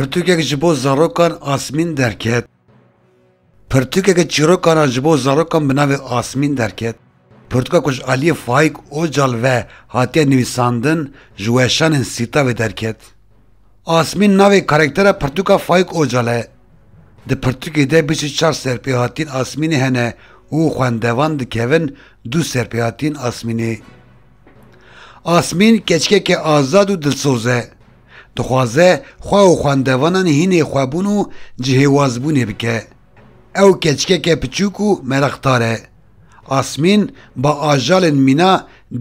Pirtûkek ji bo zarokan Asmîn derket. Pirtûkeke çîrokan a ji bo zarokan bi navê Asmîn derket. Pirtûka ku ji aliyê Faîk Ocal ve hatiye nivîsandin ji weşanên Sîtavê derket. Asmîn navê karektera pirtûka Faîk Ocal e. Di pirtûkê de bîst û çar serpêhatiyên Asmînê hene û xwendevan dikevin du serpêhatiyên Asmînê. Asmîn keçikeke azad û dilsoz e. Dixwaze xwe û xwendevanan hînê xwebûn û cihêwazbûnê bike. Ew keçikeke piçûk û meraqdar e. Asmîn ba ajalên mîna,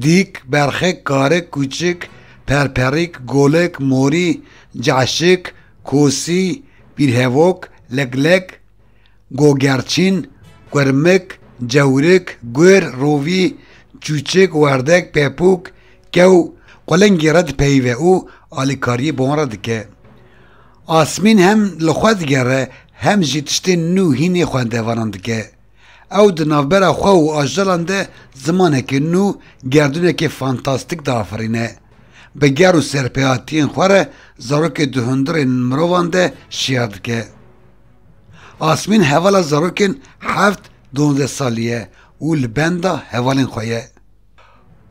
dîk, berxik, karik, kûçik, perperîk, golik, morî, caşik, kosî, pîrhevok, leglek, Gogerçîn, Kurmik, Cewrik, Gur, Rovî, Çûçik, Werdek, Pepûk, Kew, Qulingî re dipeyive û alîkariyê bi wan re dike. Asmîn hem li xwe digere hem jî tiştên nû hînê xwendevanan dike. Ew di navbera xwe û ajalan de zimanekî nû, gerdûnekî fantastîk diafirîne. Bi ger û serpehatiyên xwe re zarokê di hundirên mirovan de şiyar dike. Asmîn hevala zarokên heft dondeh salî ye û li benda hevalên xwe ye.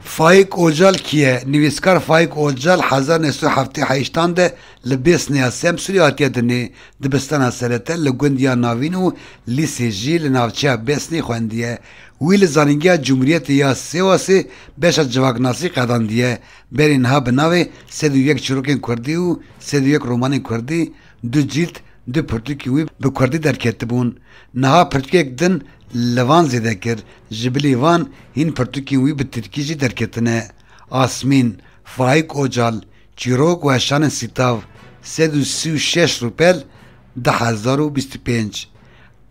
Faik Ocal kî ye? Nivîskar Faik Ocal hezar neh sed û heftê heştan de li Bêsnê ya Semsûrê hatiye dinê. Dibistana serete li gund ya Navîn û lîsê jî li navçeya Bêsnê xwendiye. Wî li Zanîngeha Cumhuriyetê ya Sêwasê beşa civaknasî qedandiye. Berê niha bi navê Sed û yek çirokên kurdî û Sed û yek romanên kurdî Du cîld, du pirtûkên wî bi kurdî derketibûn. Niha pirtûkek din li van zêde kir. Ji bilî van hîn pirtûkên wî bi tirkî jî derketine, Asmîn, Faîk Ocal, Çîrok û Heşanên Sîtav, sed û sî û şeş rûpel, du hezar û bîst û pênc.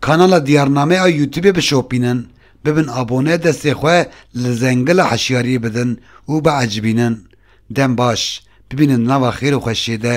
Kanala Diyarname a Youtubê bişopînin, bibin abone destê xwe li zengila hişyariyê bidin û biecibînin. Dem baş. Bibînin di nava xêr û xweşiyê de.